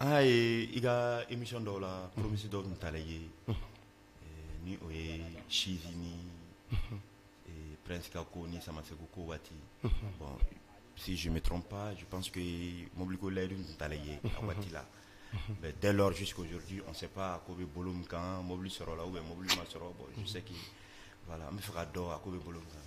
Aa ye i ka imi dɔw la poromisi dɔw tun taara ye ni o ye sisi ni pɛsika ko ni sama segu ko waati bɔn si zme dɔrɔn panse mobiliko layidu tun taara ye a waati la mɛ da lasisikodi an se pa ko bɛ bolo min kan mɔbili sɔrɔ la u bɛ mɔbili ma sɔrɔ bɔn seki wala an bɛ fɛ ka dɔn a ko bɛ bolo kan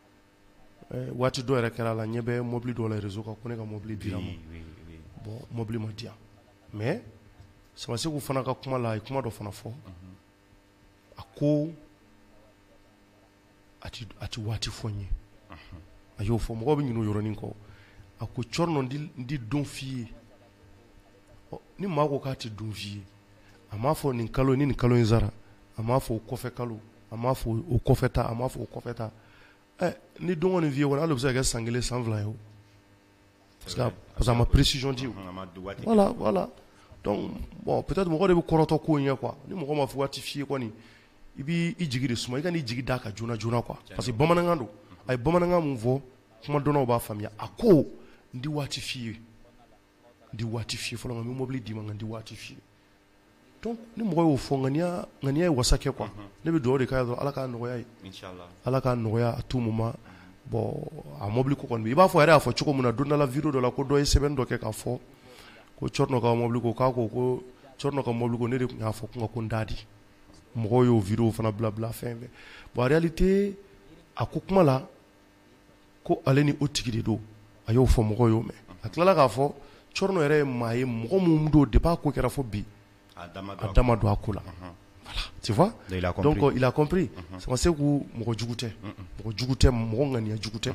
Ɛɛ waati dɔ yɛrɛ kɛra a la n ɲɛ bɛ mobili dɔ la réseau kan ko ne ka mobili dira n ma, oui, oui, oui, bon mobili ma di yan mais Sama Seku fana ka kuma la a ye kuma dɔ fana fɔ, unhun, a ko a tɛ a tɛ waati fɔ n ye, unhun, a y'o fɔ mɔgɔw bɛ ɲinɛ o yɔrɔnin kɔ, a ko Cɔrɔnɔ n tɛ don f'i ye, ɔ ni maa ko k'a tɛ don f'i ye a m'a fɔ nin kalo ni nin kalo in sara a m'a fɔ o kɔfɛ kalo a m'a fɔ o kɔfɛ ta a m'a fɔ o kɔfɛ ta ɛ ni don kɔni f'i ye kɔni hali o bɛ se ka kɛ san kelen san fila ye o parce que a parce que a ma précision di o a ma don waati voilà voilà donc bon peut-être mɔgɔ de bɛ kɔrɔtɔ ko in ɲɛ quoi ni mɔgɔ ma waati f'i ye kɔni i b'i jigi de suma i kan'i jigi d'a kan joona joona quoi parce que bamanankan don a ye bamanankan min fɔ kuma dɔnnaw b'a faamuya a ko n tɛ waati f'i ye tɛ waati f'i ye fɔlɔ nka n bɛ mobili d'i ma nka n tɛ waati f'i ye donc ni mɔgɔ y'o fɔ ŋaniya ŋaniya ye wasa kɛ quoi mhm. ne bɛ dugawu de k'a ye dɔrɔn ala k'a nɔgɔya a ye ala k'a nɔgɔya à tout moment bon a mobili ko kɔni i b'a fɔ a yɛrɛ y'a fɔ cogo min na don dɔ la video dɔ la ko dɔ ye sɛbɛnni dɔ kɛ k'a fɔ ko Cɔrɔnɔ ka mobili ko k'a ko ko Cɔrɔnɔ ka mobili ko ne de tun y'a fɔ ko n ka ko n t'a di mɔgɔw y'o video fana bila bila fɛn fɛ bon en réalité a ko kuma la ko ale ni o tigi de don a y'o fɔ mɔgɔw y'o mɛn a tilala k'a fɔ Cɔrɔnɔ yɛrɛ ye maa ye mɔgɔ min don depuis a ko kɛra fo bi a da ma don a ko la tu vois donc il a compris Sama Seku mɔgɔ jugu tɛ mɔgɔ jugu tɛ mɔgɔ ŋaniya jugu tɛ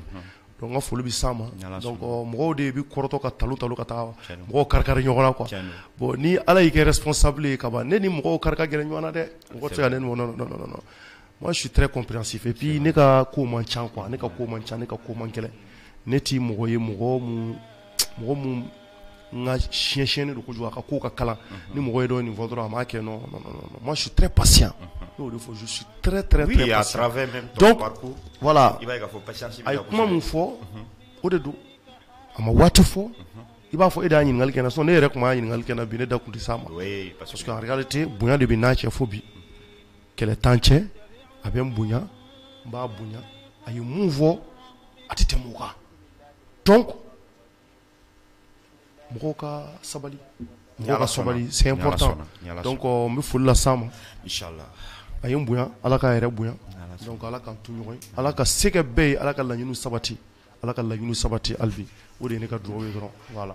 n ka foli bɛ s'a ma mɔgɔw de bɛ kɔrɔtɔ ka talo talo ka taa mɔgɔ kari kari ɲɔgɔn na quoi bon ni ala y'i kɛ responsable ye ka ban ne ni mɔgɔ kari gɛrɛ ɲɔgɔn na dɛ mɔgɔ tɛ ne Moi je suis très compréhensif et puis ne ka ko man ca quoi ne ka ko man ca ne ka ko man gɛlɛn ne tɛ mɔgɔ ye mɔgɔ mun mɔgɔ mun n ka siɲɛ siɲɛni don kojugu a ka ko ka kalan ni mɔgɔ ye dɔɔnin fɔ dɔrɔn a m'a kɛ non non non non moi je suis très patient ne y'o de fɔ je suis très très oui, très patient à travers même ton donc parcours, voilà i b'a ye k'a fɔ patience bɛ kosɛbɛ. a ye kuma mun fɔ o de don a ma waati fɔ i b'a fɔ e de y'a ɲininkali kɛ n na sinon n'e yɛrɛ tun m'a ɲininkali kɛ n na bi ne da tun tɛ s'a ma Oui, parce que en réalité bonya de bɛ n n'a cɛ fo bi kɛlɛ t'an cɛ a bɛ n bonya n b'a bonya a ye mun fɔ a tɛ tɛmɛ o kan donc mɔgɔw ka sabali ka sabali c'est important donc n bɛ foli las'a ma a ye n bonya ala k'a yɛrɛ bonya donc ala k'an to ɲɔgɔn ye ala ka se kɛ bɛɛ ye ala ka laɲini sabati ala ka laɲini sabati hali bi o de ye ne ka dugawu ye dɔrɔn voilà